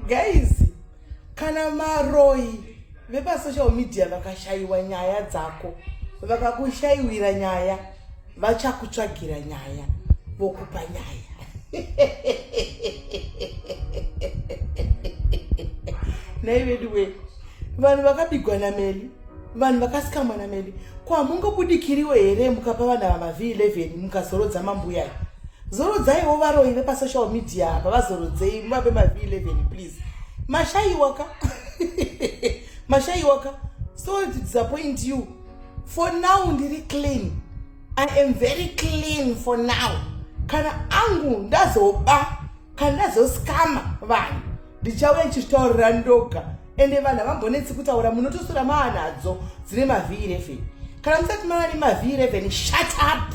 guys kana maroyi vepasocial media vakashayiwa nyaya dzako vakakushaiwira nyaya vachakutsvagira nyaya vokupa nyaya nai veduwe vanhu vakabigwa nameli vanhu vakasikamwa nameli ko hamungobudikiriwo here mukapa vanhu ava mavhi 11 mukazorodza mambuyai zorodzaiwo varoyi vepasocial media apa vazorodzei muvape mav 11 please mashaiwaka mashaiwaka sorry to disappoint you for now ndiri clean i am very clean for now kana angu ndazoba kana ndazoskama vanhu ndichauya ndichitaurira ndoga ende vanhu havambonetsi kutaura munotosura maanadzo dzine mav 11 kana musati mava nemav 11 shut up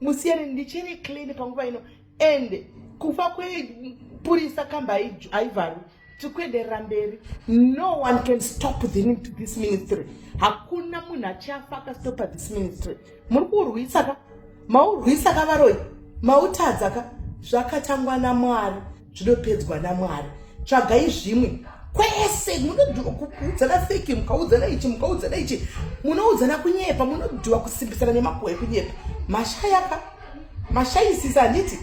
musiyane ndichiri clean panguva ino and kufa kwepurisa kamba haivharwi tiri kuenderera mberi no one can stop this ministry hakuna munhu achafa akastopa this ministry muri kuurwisa ka maurwisa ka varoi mautadza ka zvakatangwa namwari zvinopedzwa namwari tsvagai zvimwe kwese munodhiwa kuudzana feki mukaudzana ichi mukaudzana ichi munoudzana kunyepa munodhiwa kusimbisana nemakuhwa ekunyepa mashayaka mashayisisa handiti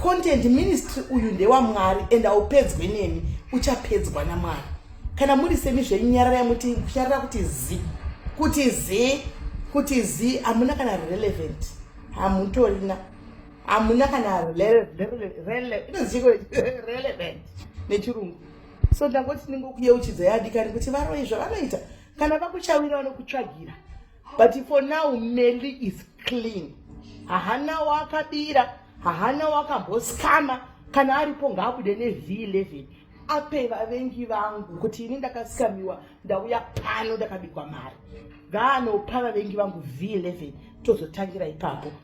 content ministry uyu ndewamwari and aupedzwe nemi uchapedzwa namwari kana muri semi zvenyarara yamuti kunyarara kuti zi kuti zi kuti zi hamuna kana relevant hamutorina hamuna kana relevant nechirungu so ndangoti ndingokuyeuchidza yadikani kuti varoyi zvavanoita kana vakuchawira vanokutsvagira but for now meli is clean hahana wakabira hahana wakamboskama kana aripo ngaabude nev11 ape vavengi vangu kuti ini ndakasikamiwa ndauya pano ndakabikwa mari ngaanopa vavengi vangu v11 tozotangira ipapo